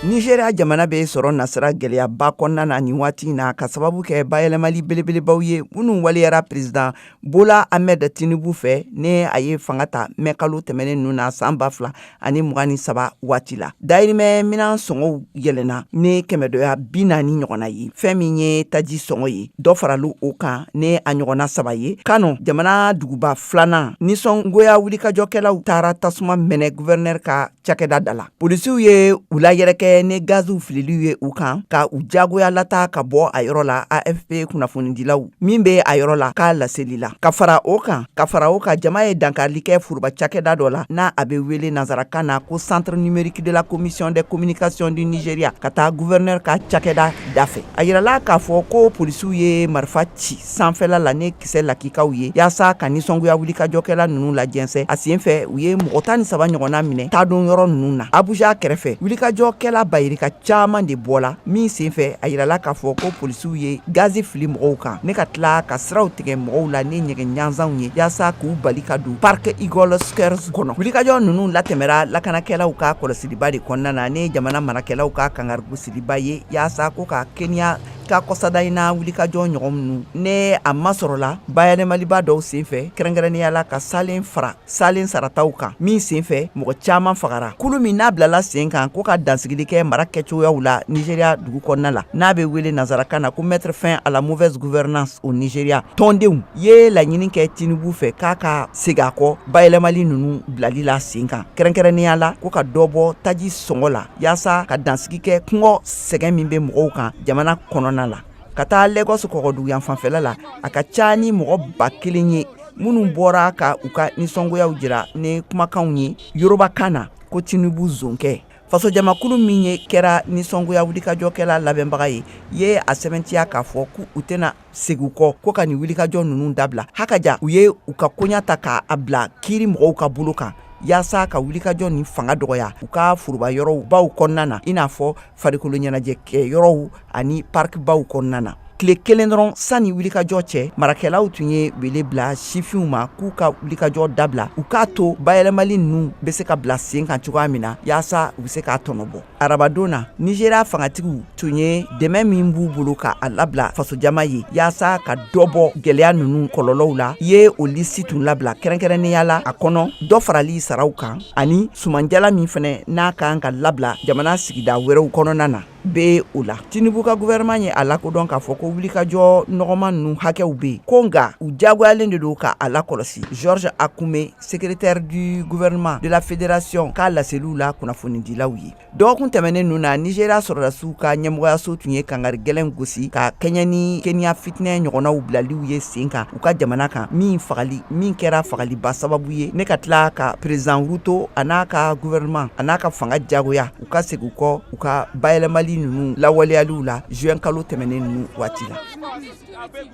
Nigeria jamana bɛ sɔrɔ nasirara gɛlɛyaba kɔnɔna na nin waati na ka sababu kɛ bayɛlɛmali belebelebaw ye minnu waleyara président bola ahmed tinubu fɛ ne a ye fanga ta mɛ kalo tɛmɛnen ninnu na san ba fila ani mugan ni saba waati la dayirimɛ minan sɔngɔw yɛlɛna ni kɛmɛdɔya bi naani ɲɔgɔnna ye fɛn min ye taji sɔngɔ ye dɔ faralu o kan ne a ɲɔgɔnna saba ye kano jamana duguba filanan nisɔngoya wulikajɔkɛlaw taara tasuma mɛnɛ gouverneur ka cakɛda da la polisiw ye u layɛrɛkɛ ni gaziw fililiw ye u kan ka u jagoya lata ka bɔ a yɔrɔ la afp kunnafonidilaw min bɛ a yɔrɔ la k'a laseli la ka fara o kan ka fara o kan jama ye dankarili kɛ foroba cakɛda dɔ la n'a a bɛ wele nansarakan na ko centre numérique de la commission des communications du nigeria ka taa gouverneur ka cakɛda dafɛ a jirala k'a fɔ ko polisiw ye marifa ci sanfɛla la ne kisɛ lakikaw ye yasa ka nisɔngoya wulikajɔkɛla ninnu lajɛnsɛ a sen fɛ u ye mɔgɔ tan ni saba ɲɔgɔnna minɛ taadon yɔrɔ ninnu na abuja kɛrɛfɛ wulikajɔkɛla bayirika caman de bɔla min sen fɛ a yirala k'a fɔ ko polisiw ye gazi fili mɔgɔw kan ne ka tila ka siraw tigɛ mɔgɔw la ni nɛgɛ ɲanzanw ye yasa k'u bali ka don parc eagle square kɔnɔ wulikajɔ ninnu latɛmɛra lakanakɛlaw ka kɔlɔsiliba de kɔnɔna na ne jamana marakɛlaw ka kangarigosiliba ye yasa ko ka kenya Ka kɔsa in na wulikajɔ ɲɔgɔn minnu ne a masɔrɔla bayɛlɛmaliba dɔw senfɛ kɛrɛnkɛrɛnnenya la ka salen fara salen sarataw kan min senfɛ mɔgɔ caman fagara kulu min n'a bilala sen kan ko ka dansigili kɛ mara kɛcogoyaw la nigeria dugu kɔnɔna la n'a bɛ wele nansarakan na ko mettre fin à la mauvaise gouvernance au nigeria tɔndenw ye laɲini kɛ tinubu fɛ k'a ka segin a kɔ bayɛlɛmali ninnu bilali la sen kan kɛrɛnkɛrɛnnenya la ko ka dɔbɔ taji sɔngɔ la yaasa ka dansigi kɛ kɔngɔ sɛgɛn min bɛ mɔgɔw kan jamana kɔnɔna la ka taa lagos kɔgɔdugu yan fanfɛla la a ka ca ni mɔgɔ ba kelen ye minnu bɔra ka u ka nisɔngoyaw jira ni kumakanw ye yorubakan na ko tinubu zonkɛ fasojamakulu min ye kɛra nisɔngoya wulikajɔkɛla labɛnbaga ye ye a sɛbɛntiya k'a fɔ k' u tɛna segu kɔ ko ka nin wulikajɔ ninnu dabila ha ka ja u ye u ka koɲa ta k' a bila kiiri mɔgɔw ka bolo kan yaasa ka wulikajɔ nin fanga dɔgɔya u ka foroba yɔrɔw baw kɔnɔna na i n'a fɔ farikolo ɲɛnajɛ kɛ yɔrɔw ani parikibaw kɔnɔna na tile kelen dɔrɔn sanni wulikajɔ cɛ marakɛlaw tun ye wele bila sifinw ma k'u ka wulikajɔ dabila u k'a to bayɛlɛmali ninnu bɛ se ka bila sen kan cogoya min na yaasa u bɛ se k'a tɔnɔbɔ arabadon na nigeria fangatigiw tun ye dɛmɛ min b'u bolo ka a labila fasojama ye yaasa ka dɔbɔ gɛlɛya ninnu kɔlɔlɔw la ye o lisi tun labila kɛrɛnkɛrɛnnenya la a kɔnɔ dɔ farali saraw kan ani sumanjala min fɛnɛ n'a kan ka labila jamana sigida wɛrɛw kɔnɔna na bɛ o la tinubu ka gouvernement ye a lakodɔn k'a fɔ ko wulikajɔ nɔgɔman ninnu hakɛw bɛ yen ko nka u jagoyalen de don ka a lakɔlɔsi george akume Secrétaire du gouvernement de la fédération k'a laseliw la kunnafonidilaw ye dɔgɔkun tɛmɛnen ninnu na Nigeria sɔrɔdasiw ka ɲɛmɔgɔyaso tun ye kangari gɛlɛn gosi ka kɛɲɛn ni Kenya fitinɛ ɲɔgɔnnaw bilaliw ye sen kan u ka jamana kan min fagali min kɛra fagaliba sababu ye ne ka tila ka président Ruto a n'a ka gouvernement a n'a ka fanga jagoya u ka segin kɔ u ka bayɛlɛmali ninnu lawaleyaliw la juin kalo tɛmɛnen ninnu waati la